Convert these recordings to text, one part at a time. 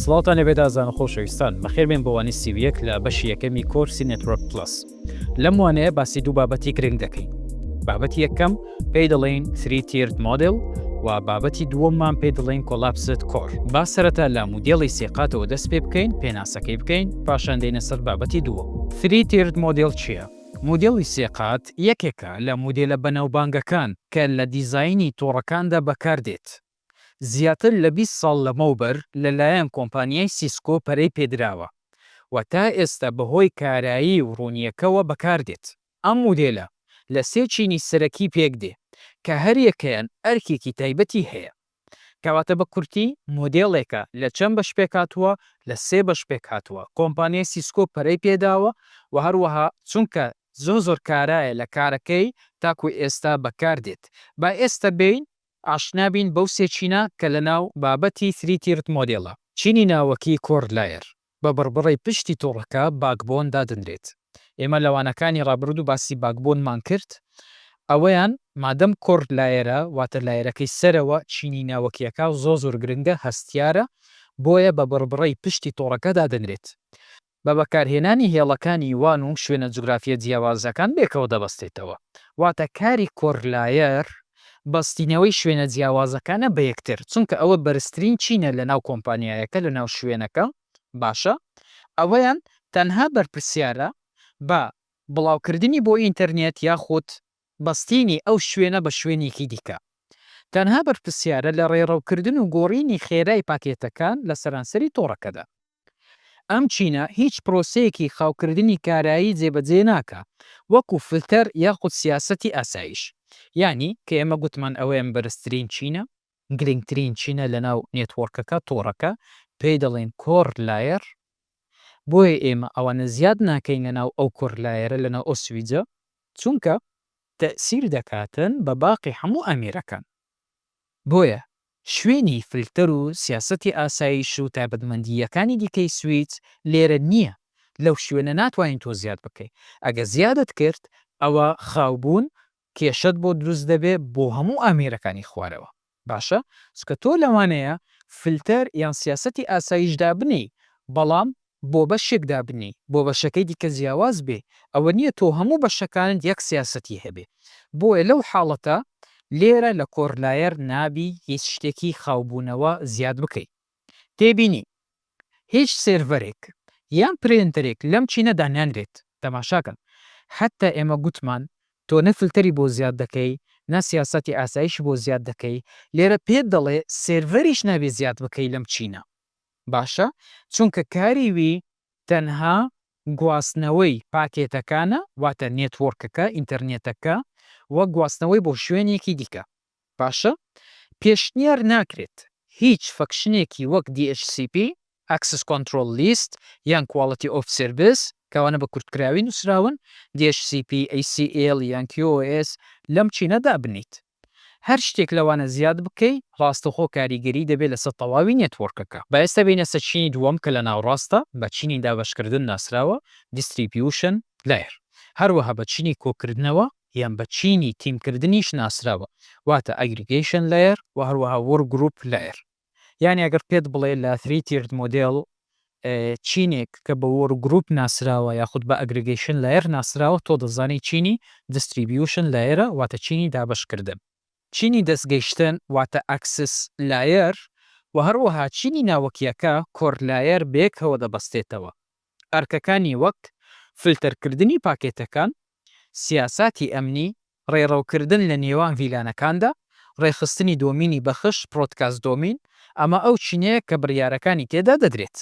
سڵاوتان لێبێ دازان و خۆشەویستان، بەخێربێن بۆ وانەی سی و یەک لە بەشی یەکەمی کۆرسی نێتوۆرک پڵەس. لەم وانەیە باسی دوو بابەتی گرنگ دەکەین. بابەتی یەکەم پێی دەڵێین Three Tiered Model و بابەتی دووەممان پێی دەڵێین Collapsed Core. با سەرەتا لە مودێڵی سێ قاتەوە دەست پێ بکەین، پێناسەکەی بکەین، پاشان دێینە سەر بابەتی دووەم. Three Tiered Model چییە؟ مودێڵی سێ قات یەکێکە لە مودێلە بەناوبانگەکان کە لە دیزاینی تۆڕەکاندا بەکاردێت. زیاتر لە بیست ساڵ لەمەوبەر لەلایەن کۆمپانیای سیسکۆ پەرەی پێدراوە و تا ئێستا بەهۆی کارایی و ڕوونییەکەوە بەکاردێت. ئەم مودێلە لە سێ چینی سەرەکی پێکدێ کە هەریەکەیان ئەرکێکی تایبەتی هەیە. کەواتە بە کورتی مۆدێڵێکە لە چەند بەش پێکهاتووە، لە سێ بەش پێکهاتووە، کۆمپانیای سیسکۆ پەرەی پێداوە و هەروەها چونکە زۆر زۆر کارایە لە کارەکەی تاکو ئێستا بەکاردێت. با ئێستا بێین ئاشنا بین بەو سێ چینە کە لە ناو بابەتی Three Tiered Model ە، چینی ناوەکی Core Layer، بە بڕبڕەی پشتی تۆڕەکە Backbone دادەنرێت. ئێمە لە وانەکانی ڕابردوو باسی Backbone مان کرد، ئەوەیان مادەم Core Layer ە واتە لایەرەکەی سەرەوە چینی ناوەکیەکە زۆر زۆر گرنگە هەستیارە بۆیە بە بڕبڕەی پشتی تۆڕەکە دادەنرێت. بە بەکارهێنانی هێڵەکانی وان و شوێنە جوگرافییە جیاوازەکان بێکەوە دەبەستێتەوە. واتە کاری کۆرلایەر بەستینەوەی شوێنە جیاوازەکانە بە یەکتر، چونکە ئەوە بەرزترین چینە لەناو کۆمپانیایەکە لەناو شوێنەکە، باشە ئەوەیان تەنها بەرپرسیارە بە بڵاوکردنی بۆ ئینتەرنێت یاخود بەستینی ئەو شوێنە بە شوێنێکی دیکە، تەنها بەرپرسیارە لە ڕێڕەوکردن و گۆڕینی خێرای پاکێتەکان لە سەرانسەری تۆڕەکەدا. ئەم چینە هیچ پرۆسەیەکی خاوکردنی کارایی جێبەجێ ناکا وەکو فلتەر یاخود سیاسەتی ئاسایش. یانی کە ئێمە گوتمان ئەوەیان بەرزترین چینە، گرنگترین چینە لەناو نێتوۆرکەکە، تۆڕەکە، پێی دەڵێن کۆر لایەر، بۆیە ئێمە ئەوانە زیاد ناکەین لەناو ئەو کۆر لایەرە لەناو ئەو سویجە چونکە تەئسیر دەکاتن بە باقی هەموو ئامێرەکان. بۆیە شوێنی فلتەر و سیاسەتی ئاسایش و تایبەتمەندییەکانی دیکەی سویچ لێرە نییە، لەو شوێنە ناتوانین تۆ زیاد بکەی، ئەگەر زیادت کرد ئەوا خاوبوون کێشەت بۆ دروست دەبێت بۆ هەموو ئامێرەکانی خوارەوە، باشە چونکە تۆ لەوانەیە فلتەر یان سیاسەتی ئاسایش دابنێی بەڵام بۆ بەشێک دابنێی بۆ بەشەکەی دیکە جیاواز بێ ئەوە نیە تۆ هەموو بەشەکانت یەک سیاسەتی هەبێ بۆیە لەو حاڵەتە لێرە لە کۆرلایەر نابی هیچ شتێکی خاوبوونەوە زیاد بکەی تێبینی هیچ سێرڤەرێک یان پرێنتەرێک لەم چینە دانانرێت تەماشاکەن حەتتا ئێمە گوتمان تۆ نە فلتەری بۆ زیاد دەکەی نە سیاسەتی ئاسایشی بۆ زیاد دەکەی لێرە پێت دەڵێ سێرڤەریش نابێ زیاد بکەی لەم چینە. باشە چونکە کاری وی تەنها گواستنەوەی پاکێتەکانە واتە نێتوۆرکەکە ئینتەرنێتەکە و گواستنەوەی بۆ شوێنێکی دیکە باشە پێشنیار ناکرێت هیچ فەکشنێکی وەک DHCP Access Control List یان Quality of Service کەوانە بە کورتکراوی نوسراون DHCP ACL یان QoS لەم چینە دابنێیت هەر شتێک لەوانە زیاد بکەی ڕاستەوخۆ کاریگەری دەبێت لەسەر تەواوی نێتوۆرکەکە. با ئێستا بێینە سەر چینی دووەم کە لە ناوڕاستە بە چینی دابەشکردن ناسراوە، Distribution Layer، هەروەها بە چینی کۆکردنەوە یان بە چینی تیمکردنیش ناسراوە واتە Aggregation Layer و هەروەها Workgroup Layer. یانی ئەگەر پێت بڵێ لە Three Tiered Model چینێک کە بە Work Group ناسراوە یاخود بە Aggregation Layer ناسراوە تۆ دەزانی چینی Distribution Layer ە واتە چینی دابەشکردن، چینی دەستگەیشتن واتە Access Layer و هەروەها چینی ناوەکیەکە Core Layer بەیەکەوە دەبەستێتەوە ئەرکەکانی وەک فلتەرکردنی پاکێتەکان، سیاساتی ئەمنی، ڕێڕەوکردن لە نێوان ڤیلانەکاندا، ڕێکخستنی دۆمینی بەخش، Broadcast Domain، ئەمە ئەو چینەیە کە بڕیارەکانی تێدا دەدرێت.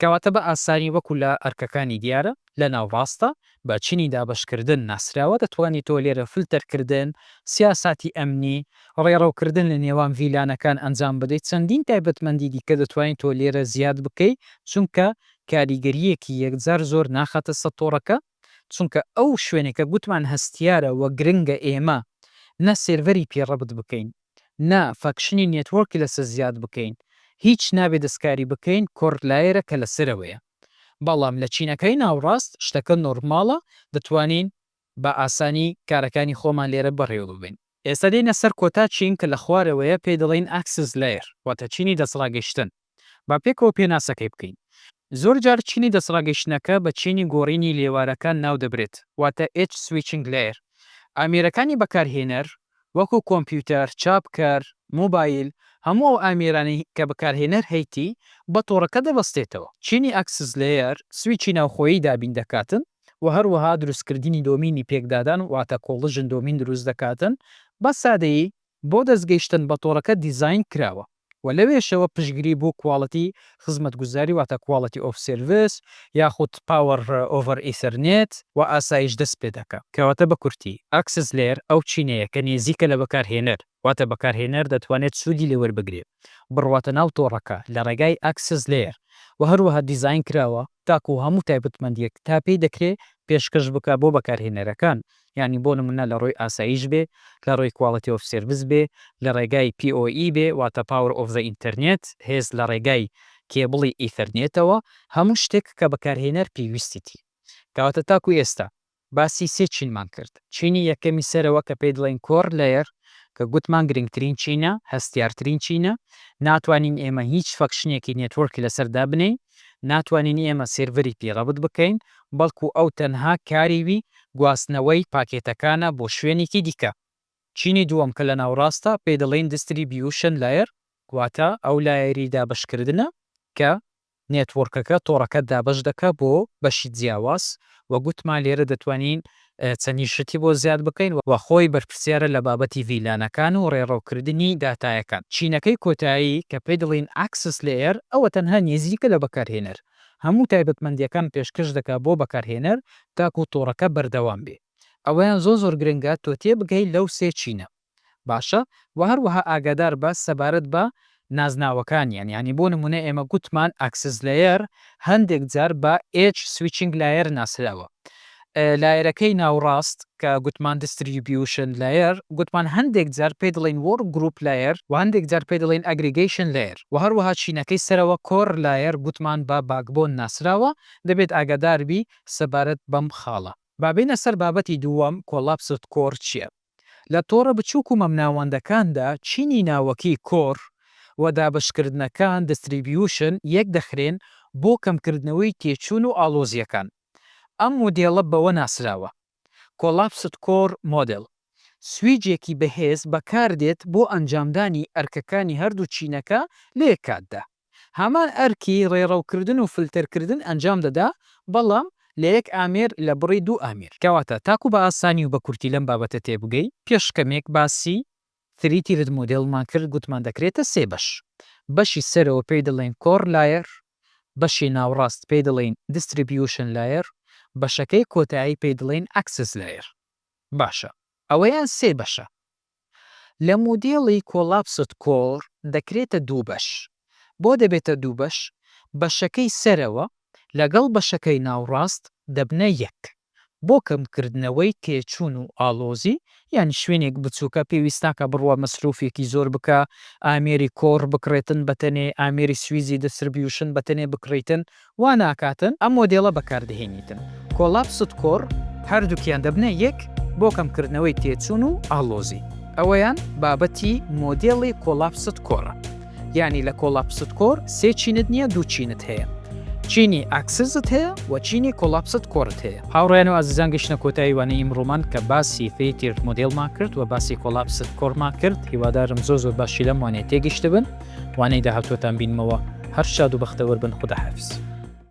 کەواتە بە ئاسانی وەکو لە ئەرکەکانی دیارە لە ناوڕاستدا بە چینی دابەشکردن ناسراوە، دەتوانی تۆ لێرە فلتەرکردن، سیاساتی ئەمنی، ڕێڕەوکردن لە نێوان ڤیلانەکان ئەنجام بدەیت، چەندین تایبەتمەندی دیکە دەتوانی تۆ لێرە زیاد بکەی، چونکە کاریگەرییەکی یەکجار زۆر ناخاتە سەر تۆڕەکە، چونکە ئەو شوێنە کە گوتمان هەستیارە وە گرنگە ئێمە نە سێرڤەری پێ ڕەبت بکەین نە فەکشنی نێتوۆرکی لەسەر زیاد بکەین هیچ نابێ دەستکاری بکەین کۆرد لایەرە کە لەسەرەوەیە بەڵام لە چینەکەی ناوڕاست شتەکە نۆرماڵە دەتوانین بە ئاسانی کارەکانی خۆمان لێرە بەڕێوە ببەین. ئێستا دێینە سەر کۆتا چین کە لە خوارەوەیە پێی دەڵێین Axis Layer واتە چینی دەستڕاگەیشتن. با پێکەوە پێناسەکەی بکەین. زۆر جار چینی دەستڕاگەیشتنەکە بە چینی گۆڕینی لێوارەکان ناو دەبرێت واتە Edge Switching Layer. ئامێرەکانی بەکارهێنەر وەکو کۆمپیوتەر، چاپکەر، مۆبایل، هەموو ئەو ئامێرانەی کە بەکارهێنەر هەیتی بە تۆڕەکە دەبەستێتەوە. چینی Axis Layer سویچی ناوخۆیی دابین دەکاتن و هەروەها دروستکردنی دۆمینی پێکدادان واتە کۆڵژن دۆمین دروست دەکاتن، بە سادەیی بۆ دەست گەیشتن بە تۆڕەکە دیزاین کراوە و لەوێشەوە پشتگری بۆ کواڵیتی خزمەتگوزاری واتە Quality of Service یاخود Power over Ethernet و ئاسایش دەست پێدەکا. کەواتە بە کورتی، ئاکسس لەیەر ئەو چینەیە کە نێزیکە لە بەکارهێنەر، واتە بەکارهێنەر دەتوانێت سوودی لێ وەربگرێت بڕواتە ناو تۆڕەکە لە ڕێگای Access Layer و هەروەها دیزاین کراوە تاکوو هەموو تایبەتمەندییەک تا پێی دەکرێت پێشکەش بکات بۆ بەکارهێنەرەکان یانی بۆ نموونە لە ڕووی ئاسایش بێ لە ڕووی Quality of Service بێ لە ڕێگای POE بێ واتە Power of the Internet هێز لە ڕێگای کێبڵی ئیثەرنێتەوە هەموو شتێک کە بەکارهێنەر پێویستیتی کەواتە تاکوو ئێستا باسی سێ چینمان کرد، چینی یەکەمی سەرەوە کە پێی دڵێین Core Layer کە گوتمان گرنگترین چینە، هەستیارترین چینە، ناتوانین ئێمە هیچ فەکشنێکی نێتوۆرکی لەسەر دابنێین، ناتوانین ئێمە سێرڤەری پێی ڕەبت بکەین، بەڵکو ئەو تەنها کاری وی گواستنەوەی پاکێتەکانە بۆ شوێنێکی دیکە. چینی دووەم کە لە ناوڕاستە پێی دڵێین Distribution Layer واتە ئەو لایەری دابەشکردنە کە نێتوۆرکەکە تۆڕەکە دابەش دەکا بۆ بەشی جیاواز وە گوتمان لێرە دەتوانین چەنین شتی بۆ زیاد بکەین وە خۆی بەرپرسیارە لە بابەتی ڤیلانەکان و ڕێڕەو کردنی داتایەکان چینەکەی کۆتایی کە پێی دەڵێین ئاکسس لەیەر ئەوە تەنها نیزیکە لە بەکارهێنەر هەموو تایبەتمەندیەکان پێشکەش دەکا بۆ بەکارهێنەر تاکو تۆڕەکە بەردەوام بێ ئەوەیان زۆر زۆر گرنگە تۆ تێبگەی لەو سێ چینە باشە وە هەروەها ئاگادار بە سەبارەت بە نازناوەکانیان یانی بۆ نمونە ئێمە گوتمان ئەکسس لەیەر هەندێک جار بە ئێدج سویچینگ لایەر ناسراوە لایەرەکەی ناوڕاست کە گوتمان دیستریبیوشن لەیەر گوتمان هەندێک جار پێی دەڵێن وۆرک گروپ لەیەر وە هەندێک جار پێی دەڵێن ئەگریگەیشن لەیەر وە هەروەها چینەکەی سەرەوە کۆر لایەر گوتمان بە باکبۆن ناسراوە دەبێت ئاگادار بی سەبارەت بەم خاڵە. با بێینە سەر بابەتی دووەم کۆلاپسد کۆر چیە؟ لە تۆڕە بچووک و مەمناوەندەکاندا چینی ناوەکی، کۆر، و دابەشکردنەکان، دستریبیوشن، یەک دەخرێن بۆ کەمکردنەوەی تێچوون و ئاڵۆزییەکان. ئەم مودێڵە بەوە ناسراوە، Collapsed Core Model. سویجێکی بەهێز بەکاردێت بۆ ئەنجامدانی ئەرکەکانی هەردوو چینەکە لە یەک کاتدا. هەمان ئەرکی ڕێڕەوکردن و فلتەرکردن ئەنجام دەدا، بەڵام لە یەک ئامێر لە بڕی دوو ئامێر. کەواتە تاکو بە ئاسانی و بە کورتی لەم بابەتە تێبگەی، پێش کەمێک باسی Three Tiered Model مان کرد، گوتمان دەکرێتە سێ بەش، بەشی سەرەوە پێی دەڵێین Core Layer، بەشی ناوڕاست پێی دەڵێین Distribution Layer، بەشەکەی کۆتایی پێی دەڵێین Access Layer. باشە ئەوەیان سێ بەشە، لە مودێڵی کۆلاپسد کۆر دەکرێتە دوو بەش. بۆ دەبێتە دوو بەش؟ بەشەکەی سەرەوە لەگەڵ بەشەکەی ناوڕاست دەبنە یەک. بۆ کەمکردنەوەی تێچوون و ئاڵۆزی، یانی شوێنێک بچووکە پێویست ناکا بڕوا مەسروفێکی زۆر بکا، ئامێری کۆر بکڕێتن بەتەنێ، ئامێری سویزی دستربیوشن بەتەنێ بکڕیتن وا ناکاتن ئەم مۆدێڵە بەکاردەهێنیتن کۆلاپسد کۆر هەردووکیان دەبنە یەک بۆ کەمکردنەوەی تێچوون و ئاڵۆزی ئەوەیان بابەتی مۆدێڵی کۆلاپسد کۆرە یانی لە کۆلاپسد کۆر سێ چینت نییە دوو چینت هەیە چینی ئاکسزت هەیە وە چینی کۆلاپسد کۆرت هەیە. هاوڕێیان و ئازیزان گەشتنە کۆتایی وانەی ئیمڕۆمان کە باسی فری تیرت مۆدێڵمان کرد وە باسی کۆلاپسد کۆرمان کرد هیوادارم زۆر زۆر باشی لەم وانەیە تێگەشتبن. وانەی داهاتووتان بینمەوە هەر شاد و بەختەوەر بن خوداحافیز.